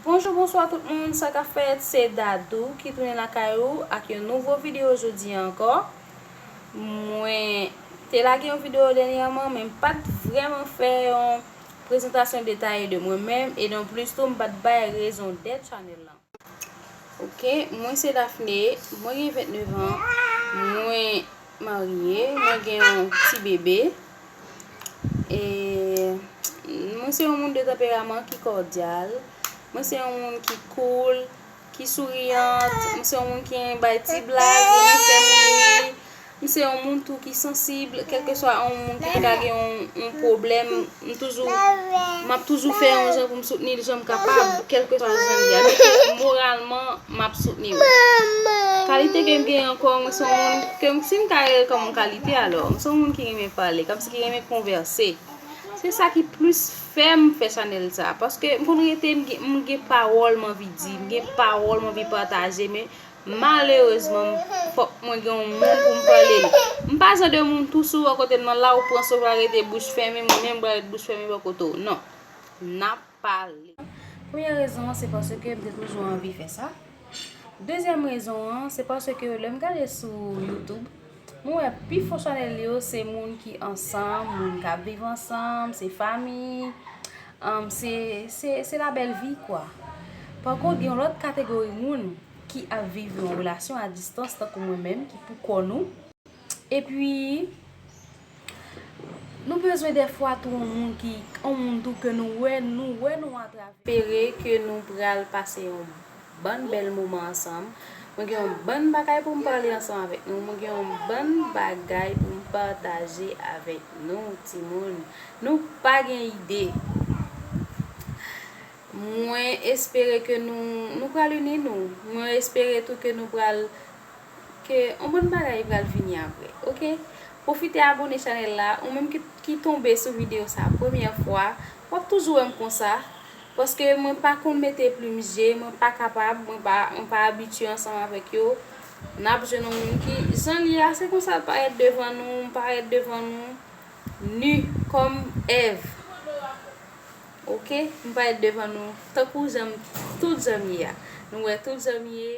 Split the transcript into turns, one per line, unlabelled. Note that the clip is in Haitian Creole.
Bonjou bonswa tout moun sa ka fèt se Dadou ki tounen lakay ou ak yon nouvo video jodi an ankò mwen te lage yon video dènyèman men m pat vrèman fè yon prezantasyon detaye de mwen menm e non plis tou m pat bay rezon dèt chanèl lan. Ok, mwen se Daphné, mwen gen 29 an, mwen marye, mwen gen yon ti bebe. E mwen se yon moun de tanperaman ki kòdyal, mwen se yon moun ki koul, ki souriyant, mwen se yon moun ki bay ti blag, mwen fè moun ri. M se yon moun tou ki sansib, kelkeswa yon moun ki te ka gen yon pwoblèm, m toujou, m ap toujou fè yon jan pou m soutni l jan m kapab, kelkeswa jan l ye. Donk, moralman, m ap soutni l. Kalite ke m gen ankò, mwen se yon moun, ke m, si m ka rele kòm yon kalite alò, m se yon moun ki renmen pale, kòmsi ki renmen konvèse. Se sa ki plis fè m fè chanèl sa a. Paske m konn rete, m gen pawòl m anvi di, m gen pawòl m anvi pataje, men Malerezman fok mwen gen yon moun pou m pale li. M pa jan de moun tou si w wè kote m nan la ou pran souf la rete bouch fèmen mwen menm m pral ret bouch fèmen wè kote w nan. N ap pale. Premye rezon an se paske m te toujou anvi fè sa. Dezyèm rezon an se paske lè m gade sou youtube Mwen wè pi fonsyonèl yo se moun ki ansanm, moun kap viv ansanm, se fami, se la bèl vi kwa. Par kont gen yon lòt kategori moun ki ap viv yon relasyon a distans tankou mwen menm ki pou kò nou. E pi. Nou bezwen defwa tou on moun ki on moun tou ke nou wè nou wè nou atravè. Espere ke nou pral pase yon bann bèl moman ansanm. Mwen gen yon bann bagay pou m pale ansanm avèk nou. Mwen gen yon bann bagay pou m pataje avèk nou timoun. Nou pa gen ide. Mwen espere ke nou nou pral ini nou. Mwen espere tou ke nou pral ke on bon bagay pral vini aprè ok pwofite abone chanèl la ou menm ki tonbe sou video sa premyè fwa wap toujou wèm konsa paske mwen pa konn mete plim je mwen pa kapab mwen pa abitye ansanm avèk yo nap jwenn on moun ki jan li a se konsal parèt devan nou m parèt devan nou nu kòm èv ok m parèt devan nou tankou janm tout janm ye a nou wè tout janm ye.